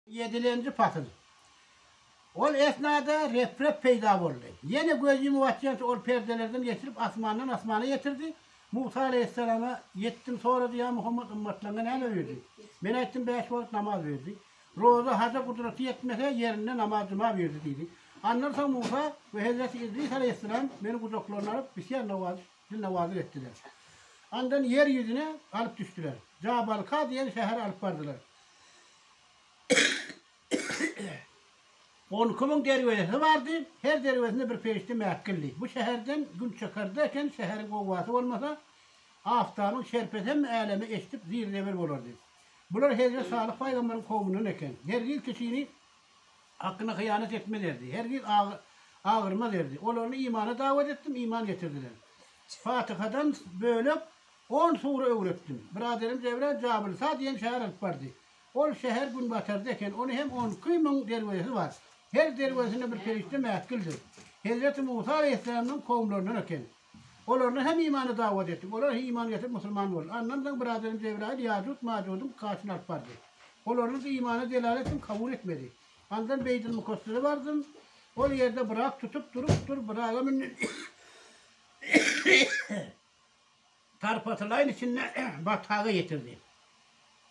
Ýedilenji pasyl. Ol esnada Rep-Rep peýda boldy. Ýene göz ýumup atýança ol perdelerden geçirip asmandan asmana ýetirdi. Musa aleýhissalama ýetdim, sorady, Ýa Muhammet, ymmatlaryňa näme buýurdy? Men aýtdym, Bäş wagt namaz buýurdy. Roza, haja gudraty ýetmese, ýerinde namaz juma buýurdy diýdi. Andan soň Musa we hezreti Idris aleýhissalam meni gujaklaryna alyp, bisýar nawaz, dil nawazyk etdiler. Andan ýer ýüzüne alyp düşdüler. Jabalka diýen şähere alyp bardylar. On iki müň derwezesi bardy, her derwezesinde bir perişde mäkildi. Bu şäherden gün çykar-da eken, şäheriň gowgasy bolmasa, Aftabyň şerpesi hem äleme eşidip zir-zeber bolardy. Bular Hezret Salyh paýgambaryň kowmundan eken. Hergiz kişini hakyna hyýanat etmez erdi, hergiz agyrmaz erdi. Olaryny imana dawat etdim, iman getirdiler. Fatyhadan bölek On sury öwretdim. Biraderim Jebra Jabylsa diýen şäher alyp bardy. Ol şäher günbatarda eken, ony hem on iki müň derwezesi bar. Her derwezesinde bir perişde mäkildir. Hezreti Musa aleýhissalamynyň kowumlaryndan eken. Olardan hem imana dawat etdim. Olar he iman getirip musulman boldy. Andan soň biraderim Jebraýyl Ýajuj Majudyň kaşyna alyp bardy. Olardan da imana delalet etdim, kabul etmedi. Andan Beýtil Mukassere bardym. Ol ýerde biraz tutup durup dur, biraz-a münden. Tarpatylaýyn içinde bataga ýetirdi.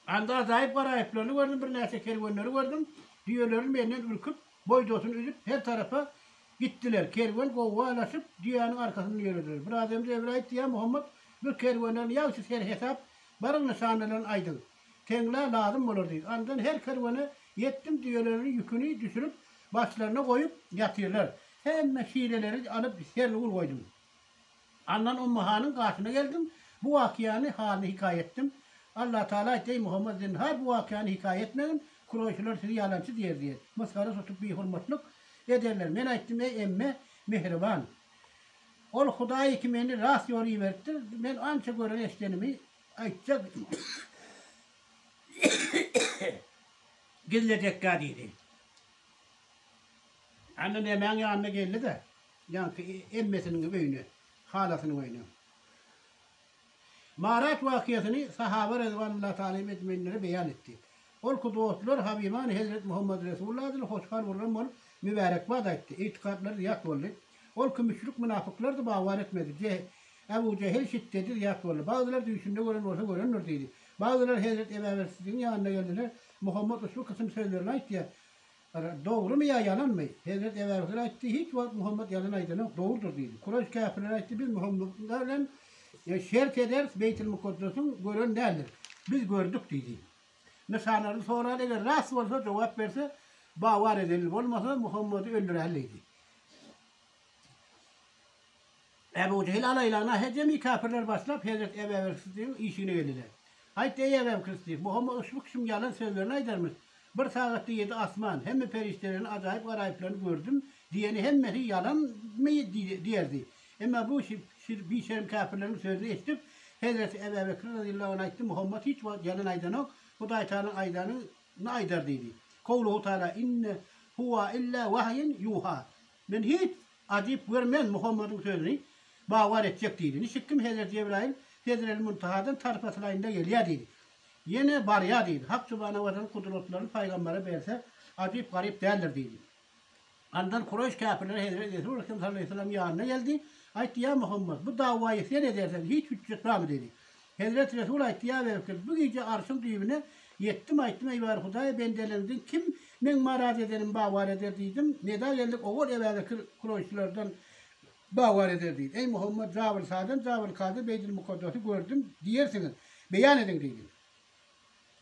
Anda ajaýyp garaýyplaryny gördüm, birnäçe kerwenleri gördüm. Düýeleri menden ürküp, boýdasyny üzüp, her tarapa gitdiler. Kerwen gowga laşyp, düýäniň arkasyndan ýörediler. Bir adamy Jebril aýtdy, Ýa Muhammet, bir kerwenleriň ýagşy serhesap, baryň nyşanalaryny aýdyň. Teňlä lazym bolar diýdi. Andan her kerwene ýetdim, düýeleriniň ýüküni düşürip, başlaryna goýup ýatyrlar. Hemme şireleri alyp, sernigur goýdum. Andan Ummu hanyň gaşyna geldim. Bu wakyýany, halyny hikaýa etdim. Allatagala aýtdy, Eý, Muhammad, zinhar, bu wakyýany hikaýa etmegin, kuroýşylar sizi ýalançy diýer diýen. Mysgara tutup bihurmatlyk ederler. Men aýtdym, Eý, emme, mähriban! Ol Hudaýy ki meni rast ýola iberipdir. Men ança gören-eşidenimi aýtjak idim. Gizlejekkä diýdi. Andan emäň ýanyna geldi-de. Ýaňky emmesiniň öýüne, halasynyň öýüne. Marat wakyýasyny sahaba rezwanullah talim ejmeýnlere beýan etdi. Ol ki dostlar Habimany hezret Muhammad Resul ladyny hoşhal urran bolup mübärekbad aýtdy. Ygtykatlary zyýat boldy. Ol ki müşrik mynafyklardy bawar etmedi. Jeh, Ebu Jehil şiddedi zyýat boldy. Bagzylar düýşünde gören bolsa görendir diýdi. Bagzylar hezret Ebabersidigiň ýanyna geldiler. Muhammad ushbu kysym sözlerini aýtýa. Gara, dogrymy ýa ýalanmy? Hezreti Ebu Zer aýtdy, Hiç wagt Muhammet ýalan aýdanok, dogrudyr diýdi. Kureýş käpirleri aýtdy, Biz Muhammede bilen şert ederis, Beýtilmukaddesiň gören däldiris. Biz gördük diýdi. Nyşanlaryny sorady, eger rast bolsa, jogap berse, Bawar edeli, bolmasa, Muhammedi öldüräli diýdi. Ebu Jehil alaýlagyna hejemi käpirler başlap hezret Ebewelkysdygyň işigine geldiler. Aýt, eý Ebewkysdyk, Muhammet uşbu kişiň ýalan sözlerini aýdarmyş, Bir sagatda ýedi asman, hemme perişdelerini, ajaýyp garaýyplaryny gördüm diýeni hemmesi ýalanmy diýerdi. Emma bu bişerm käpirleriň sözüni eşidip, hezreti Ebewekir razyýallahu anh aýtdy, Muhammet hiç wagt ýalan aýdanok, Hudaýtagalaň aýdanyny aýdar diýdi. Kowluhu taala, Inne huwa illa wahýun ýuha, Men hiç ajyp görmen Muhammadyň sözüni bawar etjek diýdi. Niçik kim Hezreti Jebraýyl Sedrel Muntahadan tarpa sylaýynda gelýär diýdi. Ýene barýar diýdi. Hak subhanahu we taala kudratlaryny pygambere berse ajyp garyp däldir diýdi. Andan Kureýş käpirleri Hezreti Resul Ekrem sallallahu aleýhi we sellem ýanyna geldi. Aýtdy, Ýa Muhammad, bu dawaýy sen edersen hiç hüjjet barmy diýdi. Hezreti Resul aýtýaberipdir, Bu gije Arşyň düýbüne ýetdim, aýtdym, Eý bar Hudaý, bendeleriňden kim Meň maraz edenimi bagwar eder diýdim. Neda geldik, Ogul Ebäbekir kuroýşylardan bagwar eder diýdi. Eý Muhammet, Jabylsadan, Jabylkady, Beýdilmukaddasy gördüm diýersiňiz, beýan ediň diýdim.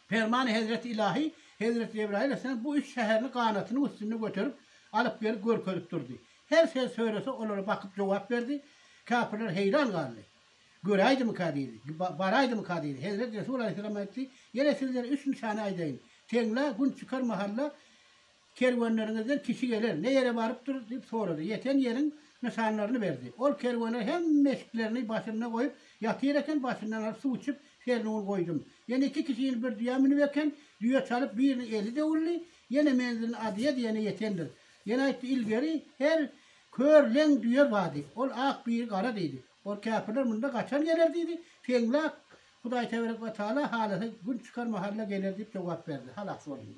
Permany Hezreti Ylahy, Hezreti Jebraýyl esselam bu üç şäherini ganatynyň üstünde göterip, alyp gelip görkezip durdy. Her söz söylese, olara bakyp jogap berdi. Käpirler heýran galdy. Göräýdimika diýdi. Baraýdymyka diýdi. Hezreti Resul alaýhyssalam aýtdy, Ýene sizlere üç nyşany aýdaýyn. Teňňä Gün çykar mahalla kerwenleriňizden kişi geler, ne ýere barypdyr? diýip sorady. Ýeten ýeriň nyşanlaryny berdi. Ol kerwenler hemme eşiklerini başynda goýup ýatyr eken, başyndan alyp suw içip, Serniun goýdum. Ýene iki kişi ýene bir düýä münüp eken, düýe çalyp, biriniň eli döwüldi. Ýene menzilini Adyýa diýene ýetendir. Ýene aýtdy, Ilgeri her kör, leň düýe bar diýip, ol ak, biri gara diýdi. Ol käpirler munda gaçan geler diýdi. Teňläp, Hudaýteberek we Taala halasa, gün çykar mahalla geler diýip jogap berdi. Halas boldy.